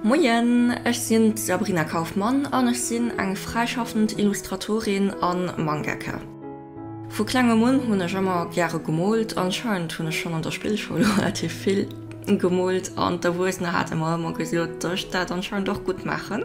Moien, ech sinn d'Sabrina Kaufmann an ech sinn eng fräischaffend Illustratorin a Mangaka. Vu klengem un hunn ech ëmmer gäre gemoolt. Anscheinend hunn ech schonn an der Spillschoul relativ vill gemoolt an d'Erwuessener hate mer ëmmer gesot, dass ech dat anscheinend och gutt maachen.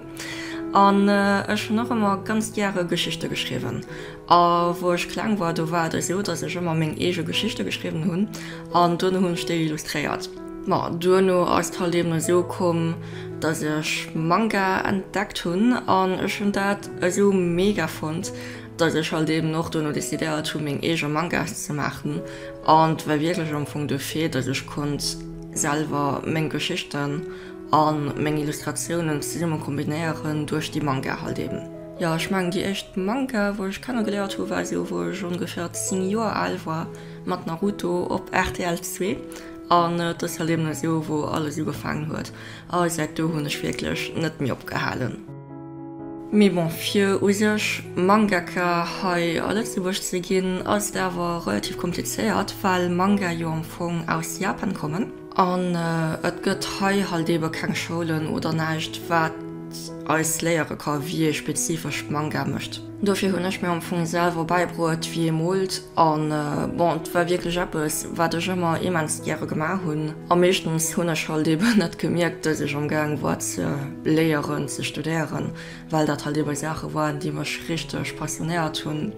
An ech hunn och ëmmer ganz gäre Geschichte geschriwwen A wou ech kleng war, do war et esou, datt ech ëmmer meng eege Geschichte geschriwwen hunn an duerno hunn ech déi illustréiert. Ma duerno ass d'Halt eben esou komm, datt ech Manga entdeckt hunn an ech hunn dat esou mega fonnt, datt ech halt eben och duerno decidéiert hu meng eege Mangas ze maachen. An 't war wierklech am Fong de Fait, datt ech konnt selwer meng Geschichten a meng Illustratiounen zesummen kombinéieren duerch déi Manga halt eben. Jo, ech mengen déi éischt Manga wou ech kenne geléiert hu war esou wou ech ongeféier 10 Joer al war mat Naruto op rtl zwee an et ass halt eben esou wou alles ugefaangen huet a säit do hunn ech wierklech net méi opgehalen. Mee bon fir u sech Mangaka hei a Lëtzebuerg ze ginn ass et awer relativ komplizéiert well Manga jo am Fong aus Japan kommen. An et gëtt hei halt eebe keng Schoulen oder näischt, wat eis léiere ka wéi ee spezifesch Manga mécht. Dofir hunn ech mir am Fong selwer bäibruet, wéi ee moolt. A bon, et war wierklech eppes, wat ech ëmmer immens gäre gemaach hunn. A meeschtens hunn ech halt eebe net gemierkt, dass ech amgaang war ze léieren, ze studéieren, well dat halt eebe Saache waren, déi mech richteg passionéiert hunn.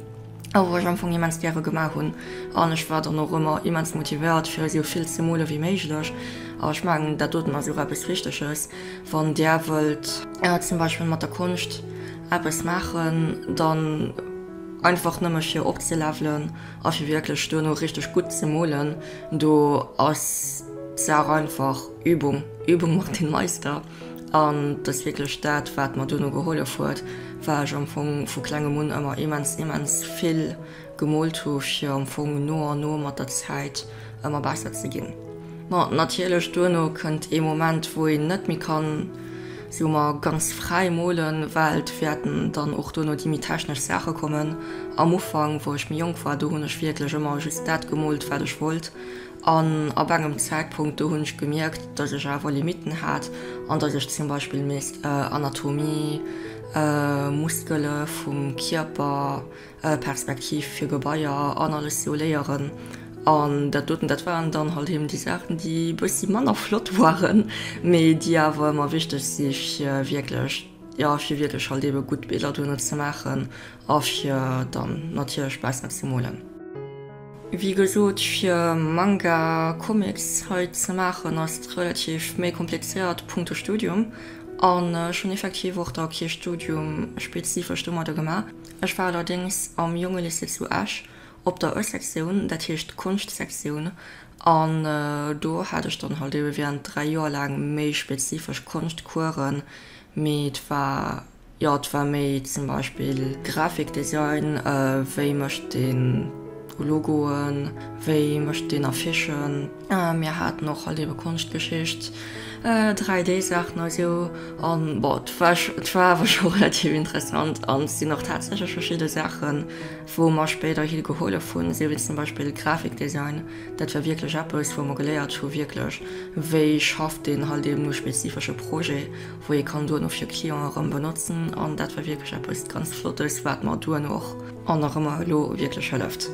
a wou ech am Fong immens gäre gemaach hunn an ech war dann och ëmmer immens motivéiert fir esou vill ze mole wéi méiglech. A ech mengen dat doten ass och eppes Richteges, wann där wëllt zum Beispill mat der Konscht eppes maachen, dann einfach nëmme fir opzelevelen a fir wierklech duerno richteg gutt ze molen, do ass d'Saach einfach Übung, Übung macht den Meister. An et ass wierklech dat, wat mer duerno gehollef huet, well ech am Fong vu klengem un ëmmer immens, immens vill gemoolt hu fir am Fong no an no mat der Zäit ëmmer besser ze ginn. Ma natierlech duerno kënnt ee Moment, wou een net méi kann, soe mer, ganz fräi molen, well et wäerten dann och duerno déi méi technesch Saache kommen. Am Ufank, wou ech méi jonk war, do hunn ech wierklech ëmmer just dat gemoolt, wat ech wollt An ab engem Zäitpunkt do hunn ech gemierkt, dass ech awer Limitten hat an dass ech zum Beispill misst Anatomie, Muskele vum Kierper, Perspektiv fir Gebaier an alles sou léieren. An dat doten, dat waren dann halt eben déi Saachen, déi e bëssi manner flott waren, mee déi awer ëmmer wichteg si fir wierklech, jo, fir wierklech halt eben gutt Biller duerno ze maachen. A fir dann natierlech baussen eppes ze molen. Wéi gesot, fir Manga, Comics hei ze maachen ass et relativ méi komplizéiert punkto Studium. An ech hunn effektiv och da kee Studium spezifesch domadder gemaach. Ech war allerdéngs am Jonge Lycée zu Esch op der E-Sektioun, dat heescht Konschtsektioun. An do hat ech dann halt ebe während dräi Joer laang méi spezifesch Konschtcoursen, mee et war. Jo, et war méi zum Beispill Grafikdesign, wéi mécht een Logoen, wéi mécht een Affichen. Mir haten och halt eebe Konschtgeschicht, 3D Saachen a sou an bon, et war scho, et war awer scho relativ interessant an et sinn och tatsächlech verschidde Saachen wou mer spéiderhi gehollef hunn, sou wéi zum Beispill Grafikdesign, dat war wierklech eppes wou mer geléiert hu wierklech wéi schafft een halt eeben u spezifesche Projet wou ee kann duerno fir Clientë erëm benotzen an dat war wierklech eppes ganz Flottes, wat mer duerno och an nach ëmmer elo wierklech hëlleft.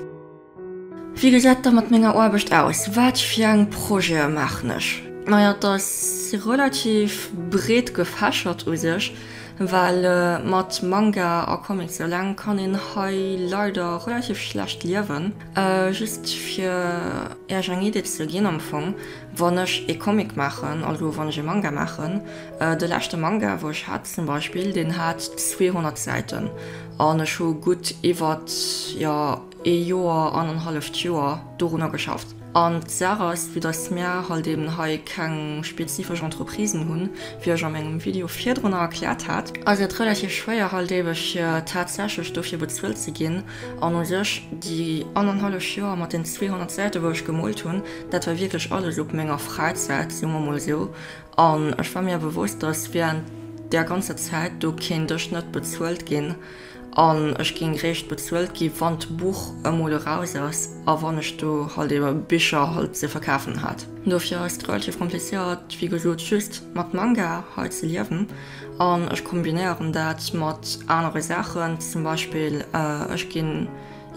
Wéi gesäit et da mat menger Aarbecht aus? Wat fir eng Projete maachen ech? Naja, et ass relativ breet gefächert u sech, well mat Manga a Comics eleng kann een hei leider relativ schlecht liewen. Just fir Iech eng Idee ze ginn, am Fong, wann ech ee Comic maachen, also wann ech ee Manga maachen, de leschte Manga, wou ech hat zum Beispill, deen hat 200 Säiten an ech hu gutt iwwert, jo, ee Joer, anenhalleft Joer dorunner geschafft. An d'Saach ass, vue dass mir halt eben hei keng spezifesch Entreprisen hunn, wéi ech a mengem Video virdrunner erkläert hat, ass et relativ schwéier halt ebe fir tatsächlech dofir bezuelt ze ginn, An u sech, déi annerhallef Joer mat den 200 Säite wou ech gemoolt hunn, dat war wierklech alles op menger Fräizäit, soe mer mol esou. An ech war mir bewosst, datt während där ganzer Zäit do kéint ech net bezuelt ginn. An ech géing réischt bezuelt gi wann d'Buch emol eraus ass a wann ech do halt ebe Bicher halt ze verkafen hat. Dofir ass et relativ komplizéiert, wéi gesot, just mat Manga hei ze liewen. An ech kombinéieren dat mat anere Saachen, zum Beispill ech ginn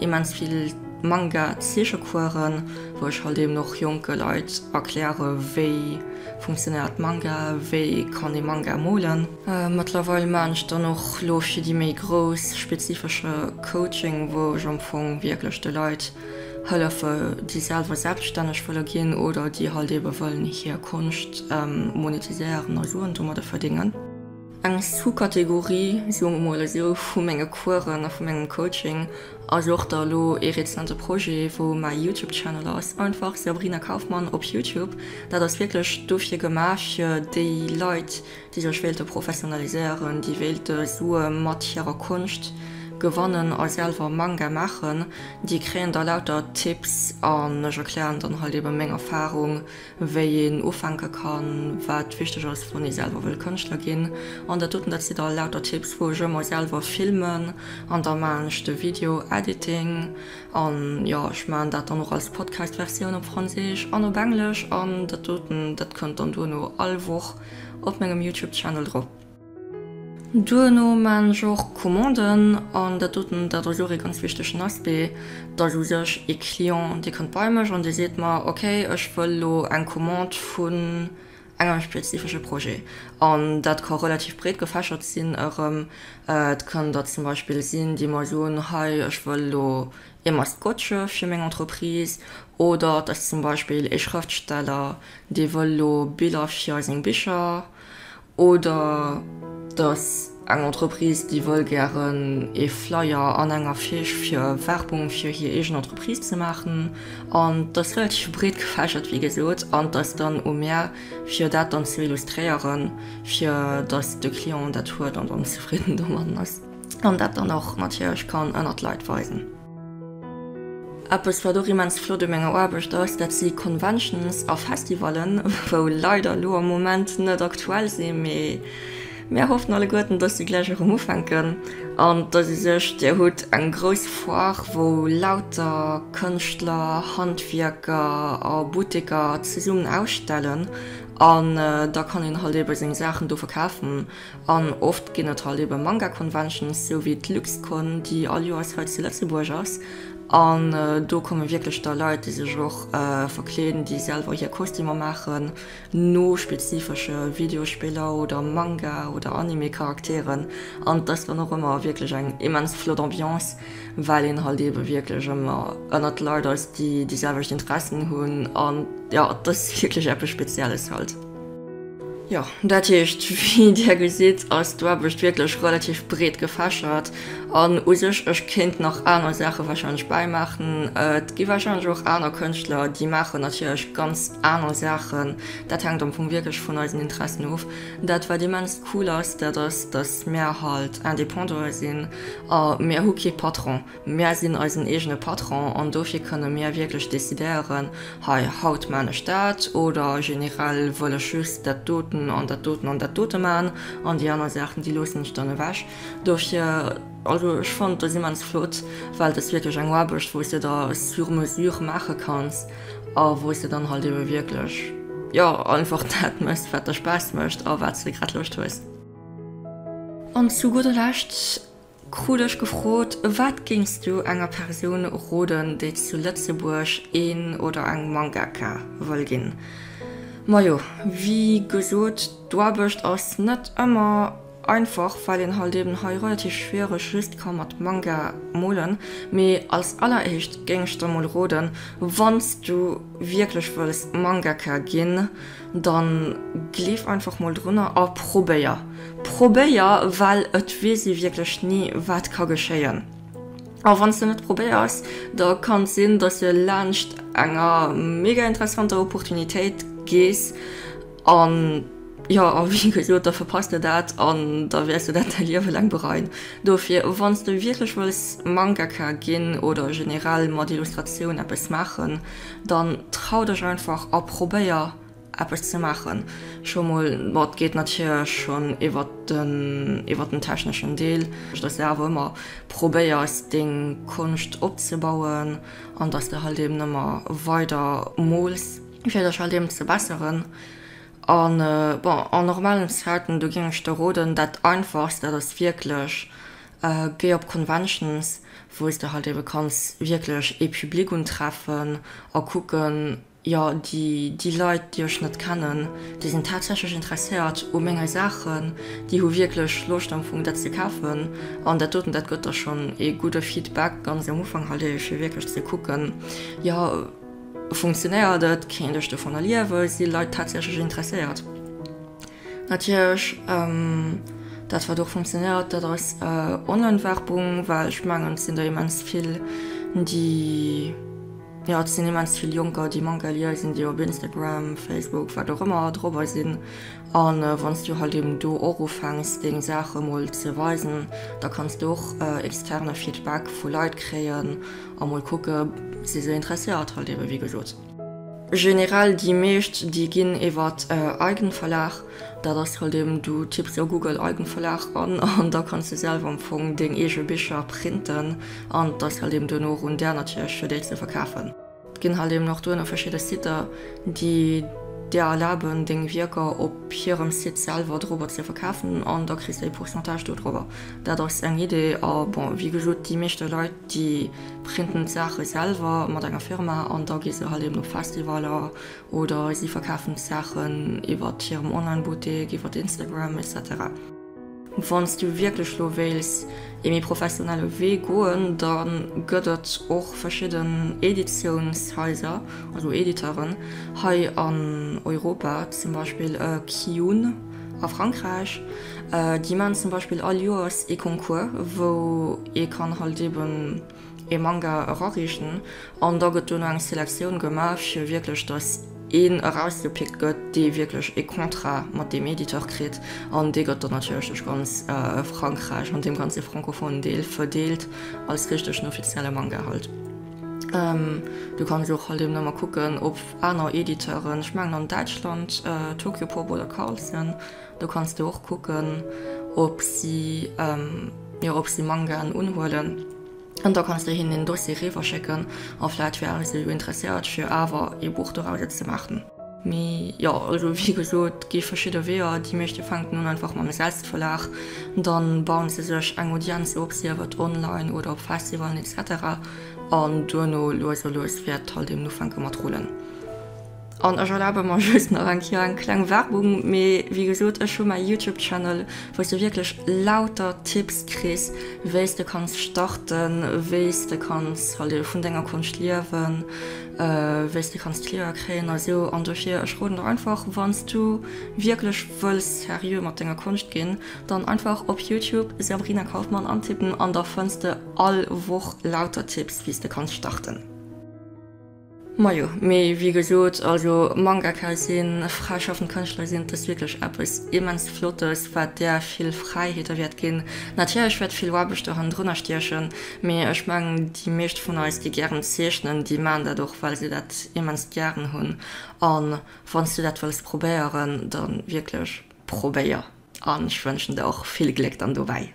immens vill Manga-Zeechecoursen, wou ech halt eben och jonke Leit erkläre wéi funktionéiert Manga, wéi kann ee Manga molen. Mëttlerweil maan ech dann och lo fir déi méi grouss spezifesche Coaching, wou ech am Fong wierklech de Leit Hëllefen, déi selwer selbststänneg wëlle ginn oder déi halt eebe wëllen hir Konscht monetiséieren a Suen domadde verdéngen. Eng Sous-Kategorie, soe mer emol esou, vu menge Coursen a vu mengem Coaching ass och da elo ee rezente Projet, wou mäi Youtube Channel ass, einfach Sabrina Kaufmann op Youtube. Dat ass wierklech dofir gemaach, fir déi Leit, déi sech wéilte professionaliséieren, déi wéilte Sue mat hirer Konscht gewannen a selwer Manga maachen, déi kréien da lauter Tipps an ech erklären dann halt eben meng Erfahrung, wéi een ufänke kann, wat wichteg ass, wann ee selwer wëll Kënschtler ginn. An dat doten, dat si da lauter Tipps, wou ech ëmmer selwer filmen an da maachen ech de Video Editing an, jo, ech maachen dat dann och als Podcast-Versioun op Franséisch an op Englesch an dat doten, dat kënnt dann duerno all Woch op mengem Youtube Channel drop. Duerno maan ech och Commanden, an dat doten dat ass och ee ganz wichtegen Aspect, dass u sech ee Client dee kënnt bei mech an dee seet mer ok ech wëll lo eng Commande vun engem spezifesche Projet an dat ka relativ breet gefächert sinn erëm, et kann da zum Beispill sinn déi mer soen hei ech wëll lo ee Maskottche fir meng Entreprise oder et ass zum Beispill ee Schrëftsteller, dee wëll elo Biller fir seng Bicher oder et ass eng Entreprise, déi wëll gären ee Flyer an eng Affiche fir Werbung fir hir eegen Entreprise ze maachen. An et ass relativ breet gefächert, wéi gesot, an et ass dann u mär, fir dat dann ze illustréieren, fir datt de Client dat huet an dann zefridden domatten ass. an dat dann och natierlech kann ënnert d'Leit weisen. Eppes wat och immens flott u menger Aarbecht ass, dat si Conventions a Festivallen, wou leider elo am Moment net aktuell sinn, mee mir hoffen alleguerten, dass si gläich erëm ufänken an dass ee sech, Dir hutt eng grouss Foire, wou lauter Kënschtler, Handwierker a Butteker zesummen ausstellen an da kann een halt eebe seng Saachen do verkafen. An oft ginn et halt eben Manga Conventions, sou wéi d'Luxcon, déi all Joers hei zu Lëtzebuerg ass. An do komme wierklech da Leit, déi sech och verkleeden, déi selwer hir Kostümer maachen no spezifesche Videospiller oder Manga oder Anime Charakteren. An et ass dann och ëmmer wierklech eng immens flott Ambiance, well een halt ebe wierklech ëmmer ënnert Leit ass, déi déi selwecht Interessen hunn. An jo, et ass wierklech eppes Spezielles halt. Jo, dat heescht, wéi Dir gesitt, ass d'Aarbecht wierklech relativ breet gefächert. An u sech, ech kéint nach aner Saache warscheinlech bäimaachen. Et gi warscheinlech och aner Kënschtler, déi maachen natierlech ganz aner Saachen. Dat hänkt am Fong wierklech vun eisen Interessen of. Dat, wat immens cool ass, dat ass, datt mir halt Indépendantë sinn a mir hu kee Patron. Mär sinn eisen eegene Patron an dofir kënne mir wierklech decidéieren, hei, haut maan ech dat oder generell wëll ech just dat doten an dat doten an dat dote maan an déi aner Saachen, déi loossen ech dann ewech. Dofir, also ech fannen dës immens flott, well et ass wierklech eng Aarbecht, wou s de der sur mesure maache kanns a wou s de dann halt ebe wierklech, jo, einfach dat méchs, wat der Spaass mécht a wat s de grad Loscht hues. An zu gudder Lescht, Krut ech gefrot, Wat géings du enger Persoun roden, déi zu Lëtzebuerg een oder eng Mangaka wëll ginn? Majo, wéi gesot, d'Aarbecht ass net ëmmer einfach, well een halt eben hei relativ schwiereg just ka mat Manga molen. Mee als alleréischt géing ech der mol roden, wann s du wierklech wëlls Mangaka ginn, Dann gleef einfach mol drunner a probéier. Probéier, well et weess ee wierklech ni wat ka geschéien. A wann s de net probéiers, da kann et sinn, datt s de laanscht enger mega interessanter Opportunitéit gees an jo, a wéi gesot, da verpasst de dat an da wäers de dat däi Liewe laang bereien. Dofir, wann s de wierklech wëlls Mangaka ginn oder generell mat Illustratioun eppes maachen, Dann trau dech einfach a probéier eppes ze maachen scho mol. Mat geet natierlech schonn iwwert den iwwert den techneschen Deel, dass de awer ëmmer probéiers deng Konscht opzebauen an dass de halt eben ëmmer weider mools fir dech halt eben ze besseren. An bon en normalen Zäiten do géing ech der roden dat einfachst dat ass wierklech Géi op Conventions, wou s de halt ebe kanns wierklech ee Public untreffen a kucken, jo, déi Leit, déi ech net kennen, déi sinn tatsächlech interesséiert u menge Saachen, déi hu wierklech Loscht am Fong dat ze kafen. An dat doten, dat gëtt da schonn ee gudde Feedback ganz am Ufank halt ebe, fir wierklech ze kucken, jo, funktionéiert et, kéint ech dovunner liewen, si Leit tatsächlech interesséiert. Natierlech, dat wat och funktionéiert, dat ass Online-Werbung, well ech mengen, et sinn der immens vill, déi, jo, et sinn immens vill Jonker, déi manque à lire sinn, déi op Instagram, Facebook, wat och ëmmer, dorobber sinn. A wann s du halt eben do och ufänks, deng Saache mol ze weisen, da kanns de och externe Feedback vu Leit kréien a mol kucke si se interesséiert, halt ebe wéi gesot. Generell déi meescht, déi ginn iwwert Eigenverlag. Dat ass halt eben, du tipps a Google Eigenverlag an, an da kanns de selwer am Fong deng eege Bicher printen an et ass halt eben duerno erun där natierlech fir déi ze verkafen. Et ginn halt eben och duerno verschidde Siter, déi der erlaben deng Wierker op hirem Site selwer dorobber ze verkafen an da kriss de e Pourcentage dodrobber. Dat ass eng Idee a bon, wéi gesot, déi meeschte Leit, déi Printen d'Saache selwer mat enger Firma an da gi se halt eben op Festivaler oder si verkafen d'Saachen iwwert hirem Online-Buttek, iwwert Instagram, etc. Wann s du wierklech lo wéils ee méi professionelle Wee goen, da gëtt et och verschidden Editiounshaiser, also Editeuren, hei an Europa, zum Beispill e Kiyun. A Frankräich déi maan zum Beispill all Joers ee Concours wou ee kann halt eben ee Manga erariichten an da gëtt duerno eng Selektioun gemaach fir wierklech dass een erausgepickt gëtt dee wierklech ee Contrat mat deem Editeur kritt an dee gëtt dann natierlech duerch ganz Frankräich an deem ganze francophonen Deel verdeelt als richtegen offizielle Manga halt. Du kanns och halt eben ëmmer kucken ob. Aner Editeuren, ech mengen an Däitschland Tokyopop oder Carlsen, do kanns de och kucken, ob si, jo, ob si Mangaen unhuelen. An da kanns de hinnen en Dossier riwwerschécken a vläicht wäre se jo interesséiert, fir awer ee Buch doraus ze maachen. Mee jo, also wéi gesot, et gi verschidde Weeër. Déi meeschte fänken un einfach mam Selbstverlag. Dann bauen se sech eng Audienz op, sief et online oder op Festivalen, etc. An duerno lues a lues wäert d'Hall deemn ufänke mat rullen. An ech erlabe mer just nach eng Kéier eng kleng Werbung, mee wéi gesot, ech hu mäi Youtube Channel, wou s de wierklech lauter Tipps kriss, wéi s de kanns starten, wéi s de kanns vun denger Konscht liewen, wéi s de kanns Clientë kréien a sou. An dofir, ech roden der einfach, wann s du wierklech wëlls seriö mat denger Konscht ginn, dann einfach op Youtube Sabrina Kauffmann antippen an da fënns de. All Woch lauter Tipps wéi's de kanns starten. Majo, mee wéi gesoot, also Mangaka sinn, fräischaffend Kënschtler sinn, et ass wierklech eppes immens Flottes, wat der vill Fräiheeter wäert ginn. Natierlech wäert vill Aarbecht do hannendrunner stiechen, mee ech mengen déi meescht vun eis, déi gären zeechnen, déi maachen dat och, well se dat immens gären hunn. An wanns du dat wëlls probéieren, dann wierklech probéier. An ech wënschen der och vill Gléck dann dobäi.